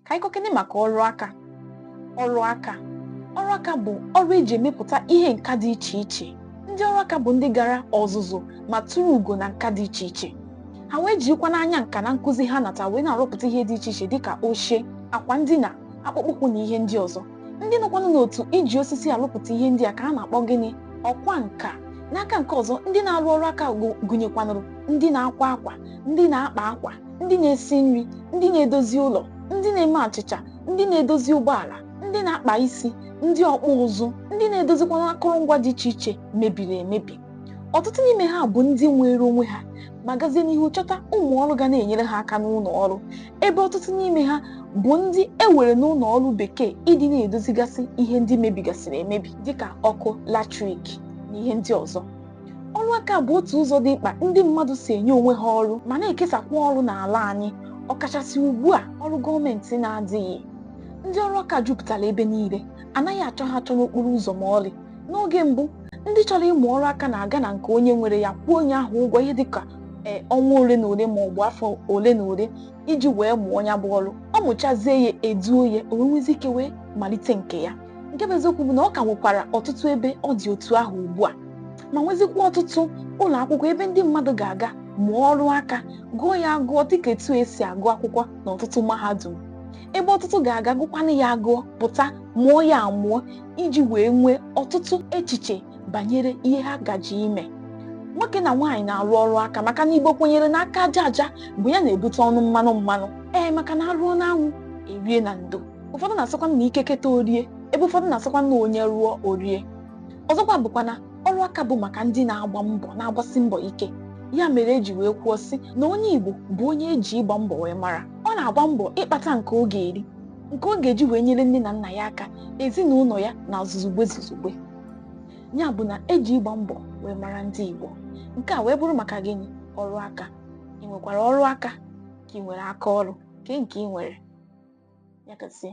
ka anyị kọkene maka ọrụ aka ọrụ aka ọrụ aka bụ ọrụ eji emepụta ihe nka dị iche iche ndị ọrụ aka bụ ndị gara ọzụzụ ma turu ugo na nka dị iche iche ha wee jirikwanụ anya nka na nkụzi ha nata wee na-arụpụta ihe dị iche iche dịka oche akwa ndina akpụkpọ ụkwụ na ihe ndị ọzọ ndị nọkwanụ n'otu iji osisi arụpụta ihe ndị a ka a na-akpọ gịnị ọkwa nka n'aka nke ọzọ ndị na-arụ ọrụ aka gụnyekwanụrụ ndị na-akwa akwa ndị na-akpa akwa ndị na-esi nri ndị na-edozi ụlọ ndị na-eme achịcha ndị na-edozi ụgbọala ndị na-akpa isi ndị ọkpụ ụzụ ndị na-edozikwanụ akụrụngwa dị iche iche mebiri emebi ọtụtụ n'ime ha bụ ndị nweere onwe ha ma gazie n'ihu chọta ụmụ ọrụ ga na-enyere ha aka n'ụlọ ọrụ ebe ọtụtụ n'ime ha bụ ndị e were n'ụlọ ọrụ bekee ịdị na-edozigasị ihe ndị mebigasịrị emebi dịka ọkụ latrik na ihe ndị ọzọ ọrụ aka bụ otu ụzọ dị mkpa ndị mmadụ si enye onwe ha ọrụ ma na-ekesakwa ọrụ n'ala anyị ọkachasị ugbu a ọrụ gọọmenti na-adịghị ndị ọrụ aka jupụtara ebe niile anaghị achọ ha achọ n'okporo ụzọ ma ọlị n'oge mbụ ndị chọrọ ịmụ ọrụ aka na-aga na nke onye nwere ya kwụọ onye ahụ ụgwọ ihe dịka ee ọnwa ole na ole ma ọ bụ afọ ole na ole iji wee mụọ ya bụ ọrụ ọ mụchazie ya eduo ya o wee nwezi ike wee malite nke ya nke bụ eziokwu bụ na ọ ka nwekwara ọtụtụ ebe ọ dị otu ahụ ugbu a ma nwezikwa ọtụtụ ụlọ akwụkwọ ebe ndị mmadụ ga-aga mụọ ọrụ aka gụọ ya agụọ dịka etu esi agụ akwụkwọ na ọtụtụ mahadum ebe ọtụtụ ga-aga gụkwanụ ya agụọ pụta mụọ ya amụọ iji wee nwee ọtụtụ echiche banyere ihe ha gaje ime nwoke na nwaanyị na-arụ ọrụ aka maka na igbo kwenyere na aka aja aja bụ ya na-ebute ọnụ mmanụ mmanụ ee maka na arụọ n'anwụ erie na ndo ụfọdụ na-asịkwa na ike keta o rie ebe ụfọdụ na-asịkwa na onye rụọ o rie ọzọkwa bụkwa na ọrụ aka bụ maka ndị na-agba mbọ na-agbasi mbọ ike ya mere eji wee kwuo sị na onye Igbo bụ onye eji ịgba mbọ wee mara ọ na-agba mbọ ịkpata nke ọ ga-eri nke ọ ga-eji wee nyere nne na nna ya aka ezinụlọ ya na zuzugbe zuzugbe ya bụ na eji ịgba mbọ wee mara ndị Igbo nke a wee bụrụ maka gịnị ọrụ aka ị nwekwara ọrụ aka ka ị nwere aka ọrụ kee nke ị nwere ya gazie